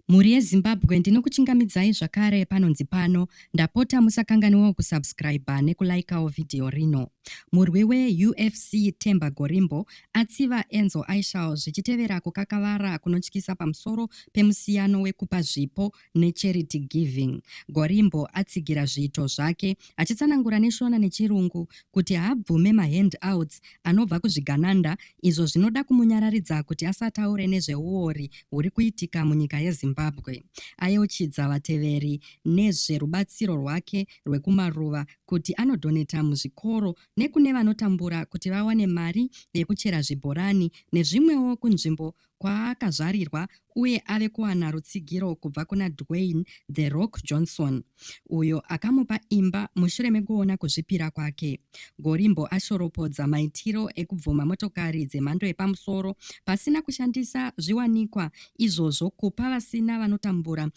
Mhuri yeZimbabwe ndinokuchingamidzai zvakare panonzi pano ndapota musakanganiwawo kusubscriber nekulaikawo vhidhiyo rino. Murwi weUFC Temba Gorimbo atsiva Enzo Aishal zvichitevera kukakavara kunotyisa pamusoro pemusiyano wekupa zvipo necharity giving. Gorimbo atsigira zviito zvake achitsanangura neShona neChirungu kuti haabvume mahand outs anobva kuzvigananda izvo zvinoda kumunyararidza kuti asataure nezveuori huri kuitika munyika yeZimbabwe. Ayeuchidza vateveri nezverubatsiro rwake rwekumaruva kuti anodhoneta muzvikoro nekune vanotambura kuti vawane mari yekuchera zvibhorani nezvimwewo kunzvimbo kwaakazvarirwa uye ave kuwana rutsigiro kubva kuna Dwayne The Rock Johnson, uyo akamupa imba mushure mekuona kuzvipira kwake. Gorimbo ashoropodza maitiro ekubvuma motokari dzemhando yepamusoro pasina kushandisa zviwanikwa izvozvo kupa vasina vanotambura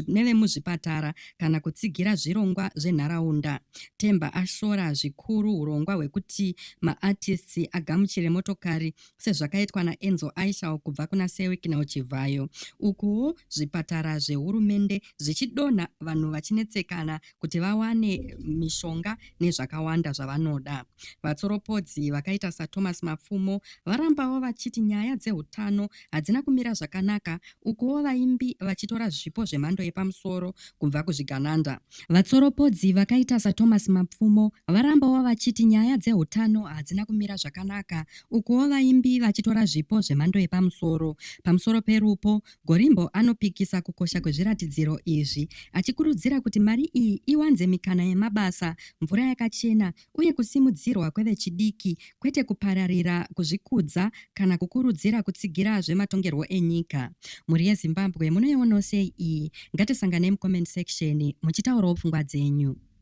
nevemuzvipatara kana kutsigira zvirongwa zvenharaunda. Temba ashora zvikuru hurongwa hwekuti maartists agamuchire motokari sezvakaitwa naenzo aishal kubva kuna sewiknel chivhayo ukuwo zvipatara zvehurumende zvichidonha vanhu vachinetsekana kuti vawane mishonga nezvakawanda zvavanoda vatsoropodzi vakaita sathomas mapfumo varambawo vachiti nyaya dzeutano hadzina kumira zvakanaka ukuwo vaimbi vachitora zvipo zvemhando yepamusoro kubva kuzvigananda vatsoropodzi vakaita sathomas mapfumo varambawo vachiti nyaya dzeutano hadzina kumira zvakanaka Ukuwo vaimbi vachitora zvipo zvemhando yepamusoro. Pamusoro perupo, Gorimbo anopikisa kukosha kwezviratidziro izvi, achikurudzira kuti mari iyi iwanze mikana yemabasa, mvura yakachena uye kusimudzirwa kwevechidiki, kwete kupararira kuzvikudza kana kukurudzira kutsigira zvematongerwo enyika. Mhuri yeZimbabwe munoiwonawo sei iyi? Ngatisanganei mucomment section muchitaurawo pfungwa dzenyu.